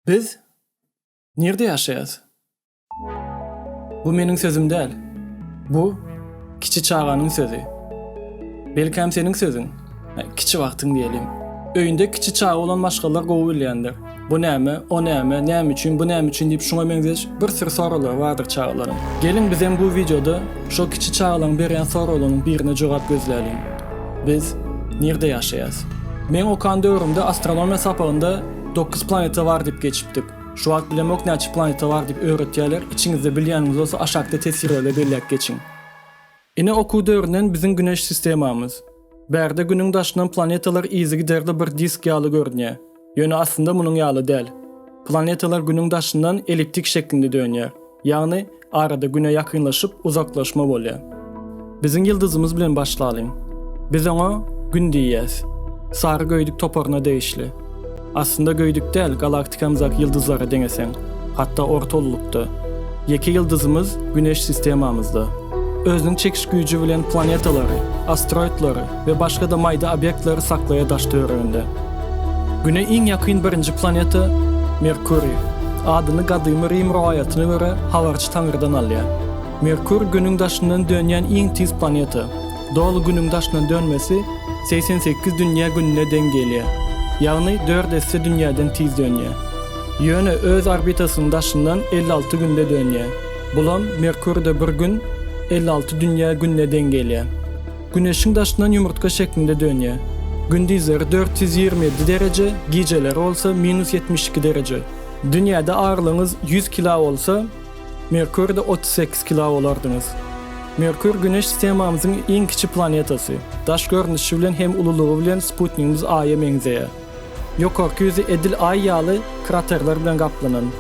Biz nirde ýaşaýas? Bu meniň sözüm däl. Bu kiçi çaganyň sözi. Belkäm seniň sözüň? Kiçi wagtyň diýelim. Öýünde kiçi çaga bolan maşgalalar gowy bilýändir. Bu näme, o näme, näme üçin, bu näme üçin diýip şuňa meňzeş bir sürü soraglar bardyr çagalaryň. Geliň bizem bu wideoda şo kiçi çagalaryň berýän soraglarynyň birine jogap gözläliň. Biz nirde ýaşaýas? Meň okan döwrümde astronomiýa sapagynda dokuz planeta bar diýip geçipdik. Şu wagt bilemok näçe planeta bar diýip öwretýärler, içiňizde bilýäniňiz bolsa aşakda teswirlerde belläp geçiň. Ine okuw döwründen biziň güneş sistemamyz. Bärde günüň daşyndan planetalar yzygiderde bir disk ýaly görünýär. Ýöne aslynda munuň ýaly däl. Planetalar Günüň daşyndan elliptik şeklinde dönýär, ýagny arada Güne ýakynlaşyp uzaklaşma bolýar. Biziň ýyldyzymyz bilen başlalyň. Biz oňa Gün diýýäs. Sary göýdük toparyna degişli. Aslynda göýdük däl, galaktikamyzdaky ýyldyzlara deňeseň, hatda orta ululykda. Ýeke ýyldyzymyz Güneş sistemamyzda. Özüniň çekiş güýji bilen planetalary, asteroidleri we başga-da maýda obýektleri saklaýar daş-töwereginde. Güne iň ýakyn birinji planeta Merkuriý. Adyny gadymy Rim rowaýatyna görä habarçy taňrydan alýar. Merkur Günüň daşyndan dönýän iň tiz planeta. Doly Günüň daşyndan dönmesi segsen sekiz dünýä gününe deň gelýär. Ýagny dört esse dünýäden tiz dönýär. Ýöne öz orbitasynyň daşyndan elli alty günde dönýär. Bulam Merkurde bir gün elli alty dünýä gününe deň gelýär. Güneşiň daşyndan ýumurtga şeklinde dönýär. Gündizleri dört ýüz ýigrimi ýedi dereje, gijeleri bolsa minus ýetmiş iki dereje. Dünýäde agyrylygyňyz ýüz kila bolsa, Merkurde otuz sekiz kila bolardyňyz. Merkur Güneş sistemamyzyň iň kiçi planetasy. Daş görnüşi bilen hem ululygy bilen sputnigimiz Aýa meňzeýär. Ýokarky ýüzi edil Aý ýaly kraterler bilen gaplanan.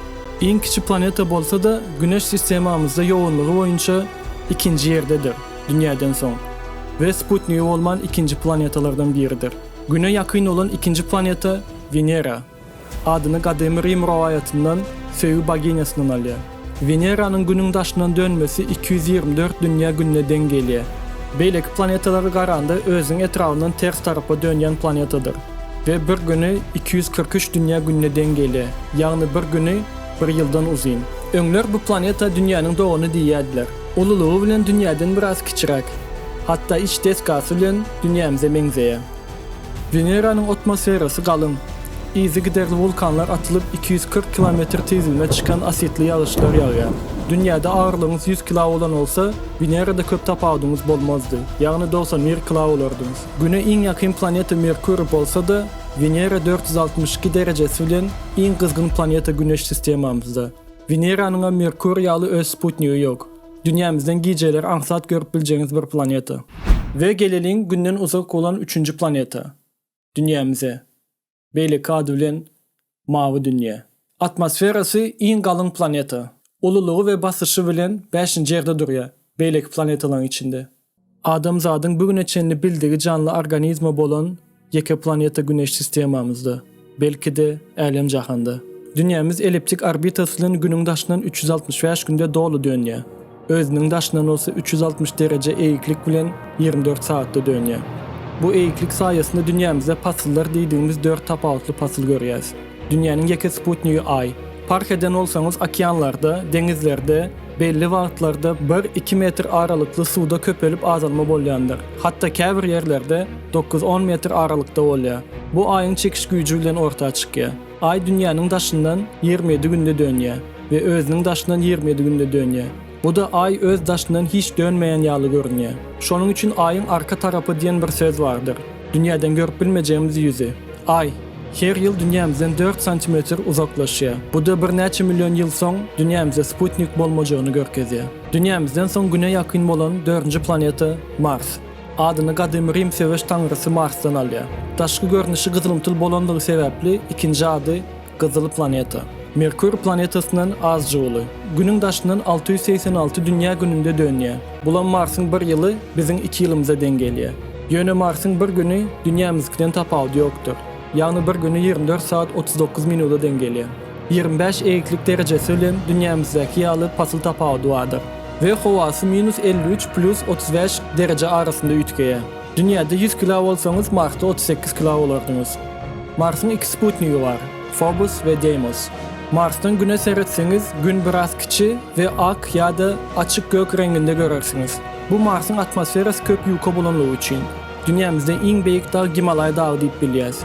Iň kiçi planeta bolsa-da, Güneş sistemamyzda ýogynlygy boýunça ikinji ýerdedir, Dünýäden soň, we sputnigi bolman ikinji planetalardan biridir. Güne ýakyn bolan ikinji planeta Wenera. Adyny Gadymy Rim rowaýatyndan söýgi boginiýasyndan alýar. Weneranyň Günüň daşyndan dönmesi iki ýüz ýigrimi dört dünýä gününe deň gelýär. Beýleki planetalara garanda özüniň etrabyndan ters tarapa dönýän planetadyr we bir güni iki ýüz kyrk üç dünýä gününe deň gelýär, ýagny bir güni bir ýyldan uzyn. Öňler bu planeta dünýäniň dogany diýýärdiler. Ululygy bilen dünýäden biraz kiçiräk, hatda iç desgasy bilen dünýämize meňzeýär. Weneranyň otmosferasy galyň. Yzygiderli wulkanlar atylyp, iki ýüz kyrk kilometr tizligine çykan asidli ýagyşlar ýagýar. Dünýäde agyrylygyňyz ýüz kilo bolan bolsa, Wenerada köp tapawudyňyz bolmazdy, ýagny dogsan bir kilo bolardyňyz. Güne iň ýakyn planeta Merkuriý bolsa-da, Wenera dört ýüz altmyş iki derejesi bilen iň gyzgyn planeta Güneş sistemamyzda. Weneranyňam Merkuriý ýaly öz sputnigi ýok. Dünýämizden gijeleri aňsat görüp biljegiňiz bir planeta. We geleliň Günden uzak bolan üçünji planeta, Dünýämize. Beýleki ady bilen Mawy dünýä. Atmosferasy iň galyň planeta. Ululygy we basyşy bilen bäşinji ýerde durýar beýleki planetalaryň içinde. Adamzadyň bu güne çenli bildigi janly organizmi bolan ýeke planeta Güneş sistemamyzda, belki-de, älem-jahanda. Dünýämiz elliptik orbitasy bilen Günüň daşyndan üç ýüz altmyş bäş günde doly dönýär, özüniň daşyndan bolsa üç ýüz altmyş dereje eýiklik bilen ýigrimi dört sagatda dönýär. Bu eýiklik saýasynda dünýämizde pasyllar diýdigimiz dört tapawutly pasyl görýäs. Dünýäniň ýeke sputnigi Aý. Parh eden bolsaňyz, okeanlarda, deňizlerde belli wagtlarda bir-iki metr aralykly suwda köpelip azalma bolýandyr. Hatda käbir ýerlerde dokuz-on metr aralykda bolýar. Bu Aýyň çekiş güýji bilen orta çykýar. Aý Dünýäniň daşyndan ýigrimi ýedi günde dönýär we özüniň daşyndan ýigrimi ýedi günde dönýär. Bu-da Aý öz daşyndan hiç dönmeýän ýaly görünýär. Şonuň üçin Aýyň arka tarapy diýen bir söz bardyr. Dünýäden görüp bilmejegimiz ýüzi. Aý, her ýyl dünýämizden dört santimetr uzaklaşýar. Bu-da birnäçe million ýyl soň dünýämize sputnik bolmajagyny görkezýär. Dünýämizden soň Güne ýakyn bolan dördünji planeta Mars. Adyny gadymy Rim söweş taňrysy Marsdan alýar. Daşky görnüşi gyzylymtyl bolanlygy sebäpli ikinji ady Gyzyl planeta. Merkuriý planetasyndan azja uly. Günüň daşyndan alty ýüz segsen alty dünýä gününde dönýär. Bulam Marsyň bir ýyly biziň iki ýylymyza deň gelýär. Ýöne Marsyň bir güni dünýämizdikiden tapawudy ýokdur. Ýagny bir güni ýigrimi dört sagat otuz dokuz minuda deň gelýär. Ýigrimi bäş eýiklik derejesi bilen dünýämizdäki ýaly pasyl tapawudy bardyr. We howasy minus elli üç plýus otuz bäş dereje arasynda üýtgeýär. Dünýäde ýüz kilo bolsaňyz, Marsda otuz sekiz kilo bolardyňyz. Marsyň iki sputnigi bar, Fobos we Deýmos. Marsdan Güne seretseňiz, Gün biraz kiçi we ak ýa-da açyk gök reňinde görersiňiz. Bu Marsyň atmosferasy köp ýuka bolanlygy üçin, dünýämizde iň beýik dag Gimalaý dagy diýip bilýäs.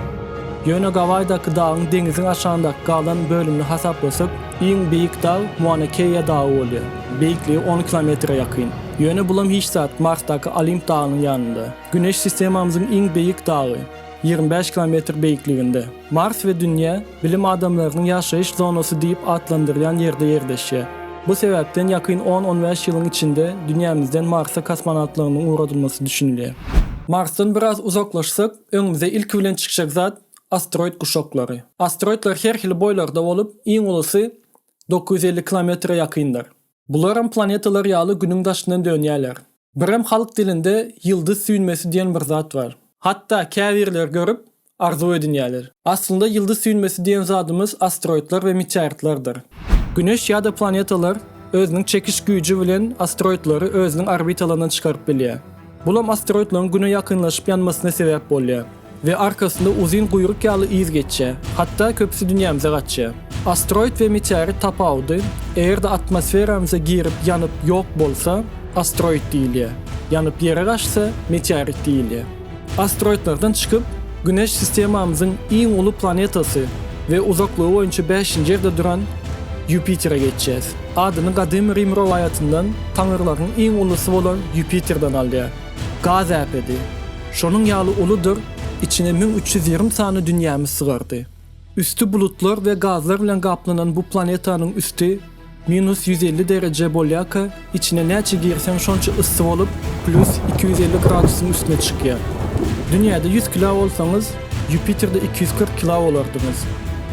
Ýöne Gawaýdaky dagyň deňiziň aşagyndaky galan bölümini hasaplasak, iň beýik dag Muana-Keýa dagy bolýar, beýikligi on kilometre ýakyn. Ýöne bulam hiç zat, Marsdaky Olimp dagynyň ýanynda. Güneş sistemamyzyň iň beýik dagy, ýigrimi bäş kilometr beýikliginde. Mars we Dünýä, bilim adamlarynyň ýaşaýyş zonasy diýip atlandyrylýan ýerde ýerleşýär. Bu sebäpden ýakyn on-on bäş ýylyň içinde Dünýämizden Marsa kosmonawtlarynyň ugradylmasy düşünilýär. Marsdan biraz uzaklaşsak, öňümize ilki bilen çykjak zat, asteroid guşaklary. Asteroidler her hili boýlarda bolup, iň ulusy dokuz ýüz elli kilometre ýakyndyr. Bularam planetalar ýaly günüň daşyndan dönýäler. Birem halk dilinde ýyldyz süýnmesi diýen bir zat bar. Hatda käbirleri görüp, arzuw edinýäler. Aslynda ýyldyz süýnmesi diýen zadymyz asteroidler we meteoritlerdir. Güneş ýa-da planetalar özüniň çekiş güýji bilen asteroidleri özüniň orbitalaryndan çykaryp bilýär. Bulam asteroidleriň Güne ýakynlaşyp ýanmasyna sebäp bolýar. We arkasynda uzyn guýruk ýaly yz geçýär. Hatda köpüsi dünýämize gaçýar. Asteroid we meteorit tapawudy, eger-de atmosferamyza girip ýanyp ýok bolsa, asteroid diýilýär. Ýanyp ýere gaçsa, meteorit diýilýär. Asteroidlerden çykyp, Güneş sistemamyzyň iň uly planetasy we uzaklygy boýunça bäşinji ýerde duran Ýupitere geçýäs. Adyny gadymy Rim rowaýatyndan taňyrlaryň iň ulusy bolan Ýupiterden alýar. Gaz äpedi. Şonuň ýaly uludyr, içine müň üç ýüz ýigrimi sany dünýämiz sygardy. Üsti bulutlar we gazlar bilen gaplanan bu planetanyň üsti minus ýüz elli dereje bolýarka, içine näçe girseň şonça yssy bolup, plýus iki ýüz elli gradusyň üstüne çykýar. Dünýäde ýüz kilo bolsaňyz, Ýupiterde iki ýüz kyrk kila bolardyňyz.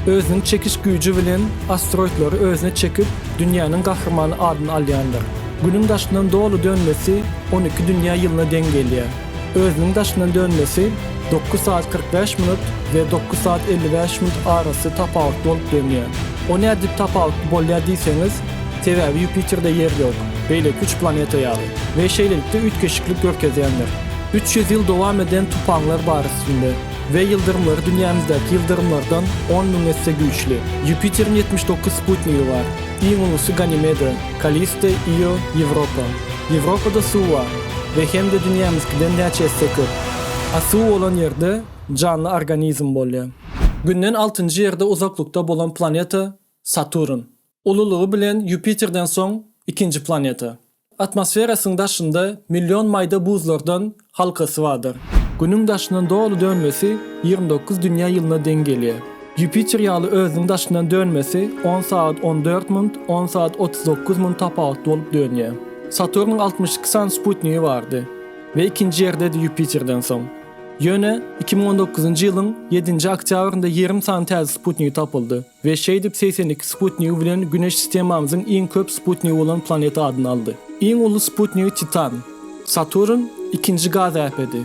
Özüniň çekiş güýji bilen asteroidleri özüne çekip, dünýäniň gahrymany adyny alýandyr. Günüň daşyndan doly dönmesi on iki dünýä ýylyna deň gelýär. Özüniň daşyndan dönmesi dokuz sagat kyrk bäş minut we dokuz sagat elli bäş minut arasy tapawutly bolup dönýär. O nädip tapawutly bolýar diýseňiz, sebäbi Ýupiterde ýer ýok, beýleki üç planeta ýaly, we şeýlelikde üýtgeşiklik görkezýändir. Üç ýüz ýyl dowam eden tupanlar bar üstünde we ýyldyrymlary dünýämizdäki ýyldyrymlardan on müň esse güýçli. Ýupiteriň ýetmiş dokuz sputnigi bar. Iň ulusy Ganimeda, Kalisto, Io, Ýewropa. Ýewropada suw bar we hem-de dünýämizkiden näçe esse köp. A suw bolan ýerde janly organizm bolýar. Günden altynjy ýerde uzaklykda bolan planeta Saturn. Ululygy bilen Ýupiterden soň ikinji planeta. Atmosferasyň daşynda million maýda buzlardan halkasy bardyr. Günüň daşyndan doly dönmesi ýigrimi dokuz dünýä ýylyna deň gelýär. Ýupiter ýaly özüniň daşyndan dönmesi on sagat on dört minut, on sagat otuz dokuz minut tapawutly bolup dönýär. Saturnyň altmyş iki sany sputnigi bardy we ikinji ýerdedi Ýupiterden soň. Ýöne iki müň on dokuzynjy ýylyň ýedinji oktýabrynda ýigrimi sany täze sputnigi tapyldy. We şeýdip segsen iki sputnigi bilen Güneş sistemamyzyň iň köp sputnigi bolan planeta adyny aldy. Iň uly sputnigi Titan. Saturn ikinji gaz äpedi.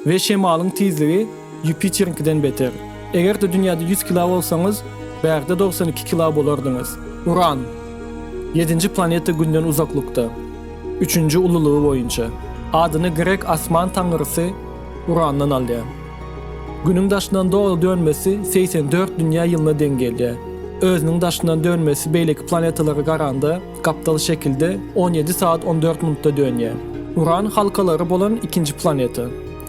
We şemalyň tizligi Ýupiteriňkiden beter. Eger-de dünýäde ýüz kilo bolsaňyz, bärde dogsan iki kilo bolardyňyz. Uran. Ýedinji planeta Günden uzaklykda. Üçünji ululygy boýunça. Adyny grek asman taňrysy. Urandan alýar. Günüň daşyndan dogry dönmesi segsen dört dünýä ýylyna deň gelýär. Özüniň daşyndan dönmesi beýleki planetalara garanda gapdal şekilde on ýedi sagat on dört minutda dönýär. Uran halkalary bolan ikinji planeta.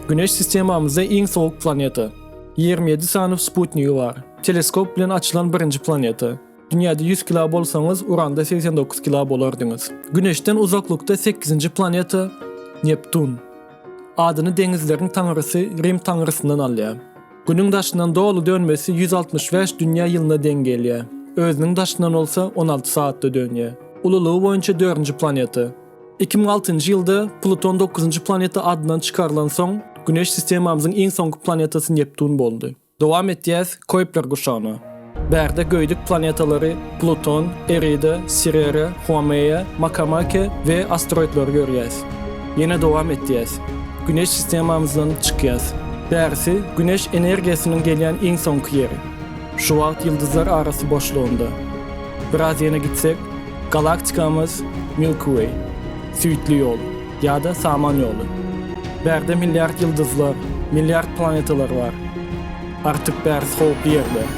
Güneş sistemamyzda iň sowuk planeta. Ýigrimi ýedi sany sputnigi bar. Teleskop bilen açylan birinji planeta. Dünýäde ýüz kilo bolsaňyz, Uranda segsen dokuz kilo bolardyňyz. Güneşden uzaklykda sekizinji planeta Neptun. Adyny deňizleriň taňrysy Rim taňrysyndan alýar. Günüň daşyndan doly dönmesi ýüz altmyş bäş dünýä ýylyna deň gelýär, özüniň daşyndan bolsa on alty sagatda dönýär. Ululygy boýunça dördünji planeta. Iki müň altynjy ýylda Pluton dokuzynjy planeta adyndan çykarylansoň, Güneş sistemamyzyň iň soňky planetasy Neptun boldy. Dowam etýäs Koýpler guşagyna. Bärde göýdük planetalary Pluton, Erida, Sirere, Huameýa, Makamake we asteroidleri görýäs. Ýene dowam etýäs. Güneş sistemamyzdan çykýas. Bärisi Güneş energiýasynyň gelýän iň soňky ýeri. Şu wagt ýyldyzlar arasy boşlugynda. Biraz ýene gitsek, galaktikamyz Milky Way, Süýtli ýol. Ýa-da Samanyýoly. Bärde milliard ýyldyzlar, milliard planetalar bar. Artyk bärsi howply ýerler.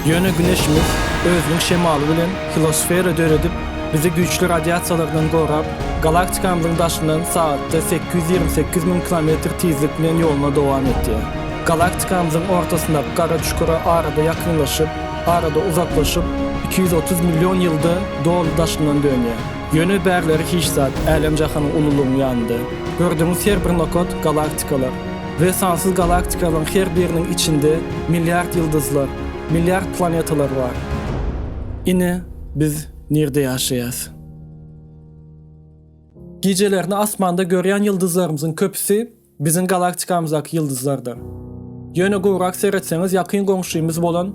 Ýöne Güneşimiz özüniň şemaly bilen hilosfera döredip, bizi güýçli radiasiýalardan gorap, galaktikamyzyň daşyndan sagatda sekiz ýüz ýigrimi sekiz müň kilometr tizlik bilen ýoluny dowam etýär. Galaktikamyzyň ortasyndaky gara çukura arada ýakynlaşyp, arada uzaklaşyp, iki ýüz otuz million ýylda doly daşyndan dönýär. Ýöne bärleri hiç zat, älem-jahanyň ululygyň ýanynda. Gördüňiz her bir nokat, galaktikalar. We sansyz galaktikalaryň her biriniň içinde milliard ýyldyzlar, milliard planetalar bar. Ine, biz nirde ýaşaýas? Gijelerine asmanda görýän ýyldyzlarymyzyň köpüsi biziň galaktikamyzdaky ýyldyzlardyr. Ýöne gowrak seretseňiz ýakyn goňşymyz bolan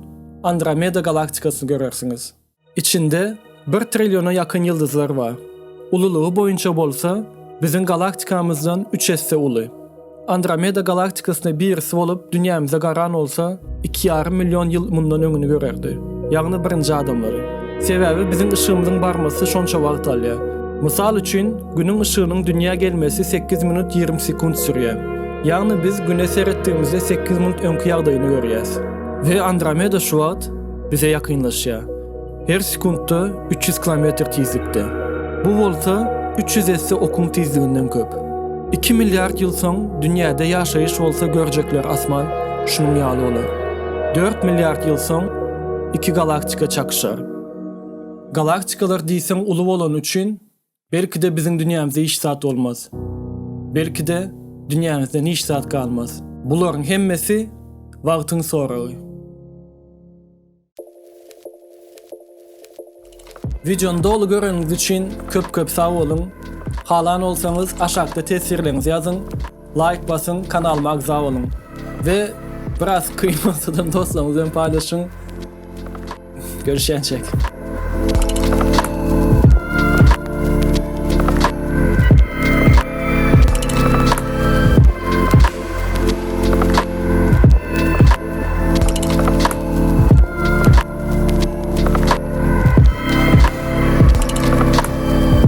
Andromeda galaktikasyny görersiňiz. Içinde bir trilliona ýakyn ýyldyzlar bar. Ululygy boýunça bolsa, biziň galaktikamyzdan üç esse uly. Andromeda galaktikasyna birisi bolup dünýämize garan bolsa, iki ýarym million ýyl mundan öňüni görerdi, ýagny birinji adamlary. Sebäbi biziň yşygymyzyň barmasy şonça wagt alýar. Mysal üçin, Günüň yşygynyň dünýä gelmesi sekiz minut ýigrimi sekunt sürýär. Ýagny biz Güne seretdigimizde sekiz minut öňki ýagdaýyny görýäs. We Andromeda şu wagt bize ýakynlaşýar. Her sekuntda üç ýüz kilometr tizlikde. Bu bolsa üç ýüz esse okuň tizliginden köp. Iki milliard ýyl soň dünýäde ýaşaýyş bolsa görjekler asman şunuň ýaly bolar. Dört milliard ýyl soň iki galaktika çakyşar. Galaktikalar diýseň uly bolany üçin Belki-de biziň dünýämizde hiç zat bolmaz. Belki-de dünýämizden hiç zat galmaz. Bularyň hemmesi wagtyň soragy. Wideony doly göreniňiz üçin köp-köp sag boluň. Halan bolsaňyz aşakda teswirleriňizi ýazyň. Laýk basyň kanalyma agza boluň we biraz kyn bolsadam dostlaryňyz bilen paýlaşyň görüşýänçäk.